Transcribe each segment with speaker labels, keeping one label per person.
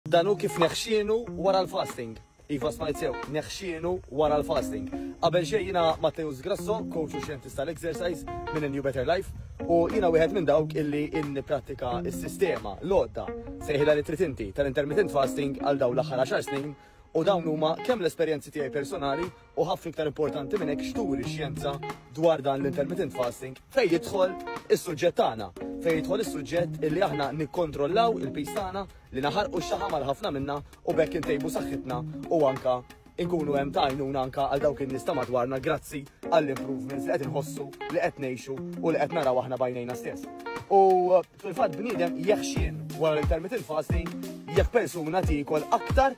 Speaker 1: Dan hu kif neħxienu wara l-fasting. Iva smajt sew, neħxienu wara l-fasting. Qabel xejn jiena Matteus Grasso, coach u xjentist tal-exercise minn A New Better Life, u jiena wieħed minn dawk illi inniprattika s-sistema, l-għodda, sejħilha li trid inti tal-intermittent fasting għal dawn l-aħħar 10 snin u dawn huma kemm l-esperjenzi tiegħi personali U ħafna iktar importanti minn hekk x'turi x-xjenza dwar dan l-intermittent fasting fejn jidħol is-suġġett tagħna, fejn jidħol is-suġġett illi aħna nikkontrollaw il-pis tagħna li naħarqu x-xaħam għal ħafna minna u bekk intejbu saħħitna u anka inkunu hemm tajnuna anka għal dawk in-nies ta' madwarna grazzi għall-improvements li qed inħossu li qed ngħixu u li qed naraw aħna bajnejna stess. U uh, fil-fatt bniedem jeħxien wara l-intermittent fasting jekk persuna tiekol aktar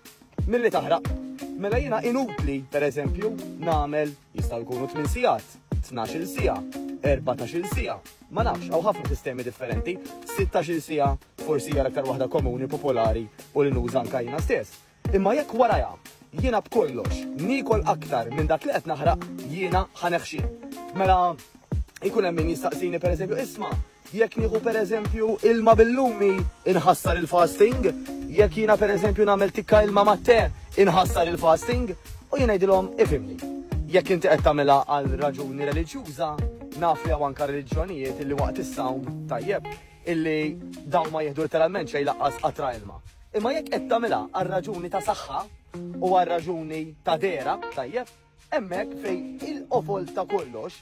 Speaker 1: Milli taħraq. Mela jiena inutli, per eżempju, nagħmel jistgħu jkunu tmien sigħat, tnax-il siegħa, erbatax-il siegħa, ma nafx, hawn ħafna sistemi differenti, sittax-il siegħa forsi hija l-aktar waħda komuni, popolari u li nuża anke jiena stess. Imma jekk warajha jiena b'kollox niekol aktar minn dak li qed naħraq jiena ħaneħxi. Mela ikun hemm min jistaqsini pereżempju isma' Jekk nieħu pereżempju ilma bil-lumi, inħassar il-fasting. Jekk jiena pereżempju nagħmel tikka ilma mat-te, inħassar il-fasting. U jien ngħidilhom ifimni. Jekk inti qed tagħmilha għal raġuni reliġjuża, naf li hawn anke reliġjonijiet illi waqt is-sawm tajjeb illi dawn ma jieħdu letteralment xejn laqqas qatra ilma. Imma jekk qed tagħmilha għal raġuni ta' saħħa u għal raġuni ta' dera tajjeb, hemmhekk fejn il-qofol ta' kollox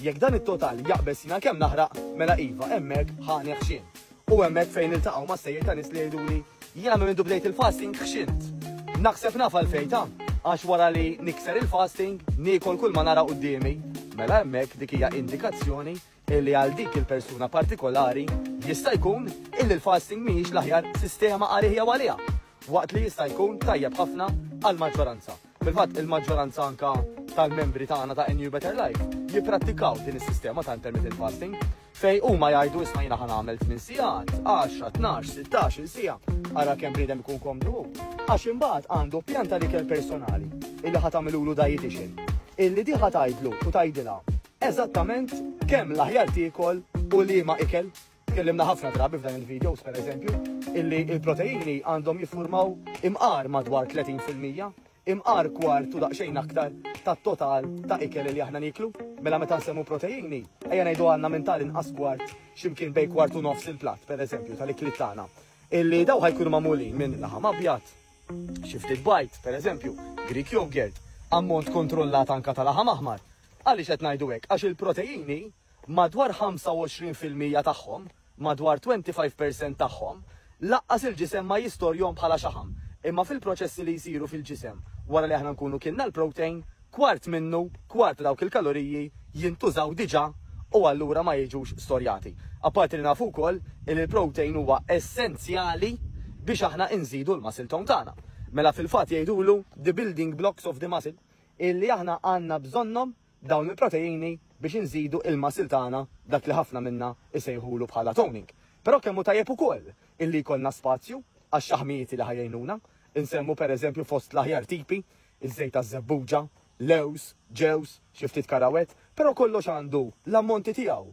Speaker 1: Jekk dan it-total jaqbeż jiena kemm naħraq, mela iva, hemmhekk ħa neħxien. U hemmhekk fejn niltaqgħu ma' stejjer ta' nies li jgħiduli, jiena minn mindu bdejt il-fasting ħxint. Naħseb naf għalfejn ta', għax wara li nikser il-fasting, niekol kull ma nara quddiemi. Mela hemmhekk dik hija indikazzjoni illi għal dik il-persuna partikolari jista' jkun illi l-fasting mhijiex l-aħjar sistema għalih jew għaliha, waqt li jista' jkun tajjeb ħafna għall-maġġoranza. Fil-fatt, il-maġġoranza anke tal-membri tagħna ta' NU Better Life jipprattikaw din is-sistema ta' intermittent fasting fejn huma jgħidu isma' jiena ħan għamel 8 sigħat, 10, 12, 16 siegħa, ara kemm bniedem ikun komdu. Għax imbagħad għandu pjan ta' ikel personali illi ħa tagħmilulu dietitian illi diħa tgħidlu u tgħidilha eżattament kemm l-aħjar tiekol u liema ikel Tkellimna ħafna drabi f'dan il-videos, per eżempju, illi il-proteini għandhom jiffurmaw imqar madwar 30 fil-mija, imqar kwart u daqsxejn aktar tat-total ta' ikel li aħna niklu. Mela meta nsemmu proteini, ejja ngħidu għandna minn tal inqas kwart x'imkien bej kwart u nofs il-platt, per eżempju, tal-ikli tagħna. Illi daw ħajkunu magħmulin minn laħam abjad, xi ftit bajt, per eżempju, Greek yogurt, ammont kontrollat anka tal-laħam aħmar. Għaliex qed ngħidu hekk? Għax il-proteini Madwar 25 fil-mija tagħhom, madwar 25 per cent tagħhom, laqqas il-ġisem ma jistorjhom bħala xaħam, imma fil-proċessi li jsiru fil-ġisem wara li aħna nkunu kilna l-protein, kwart minnu, kwart ta' dawk il-kaloriji jintużaw diġà u allura ma jiġux storjati. Apparti li nafu wkoll li l-protein huwa essenzjali biex aħna inżidu l-muscle tone tagħna. Mela fil-fatt jgħidulu the building blocks of the muscle illi aħna għandna bżonnhom dawn il-proteini biex inżidu il-muscle tagħna, dak li ħafna minna jsejħulu bħala toning. Però kemm hu tajjeb ukoll illi jkollna spazju għax-xaħmijieti li ħa jgħinuna. Insemmu pereżempju fost l-aħjar tipi, iż-żejt taż-żebbuġa, lewż, ġewż, xi ftit karawett, però kollox għandu l-ammonti tiegħu.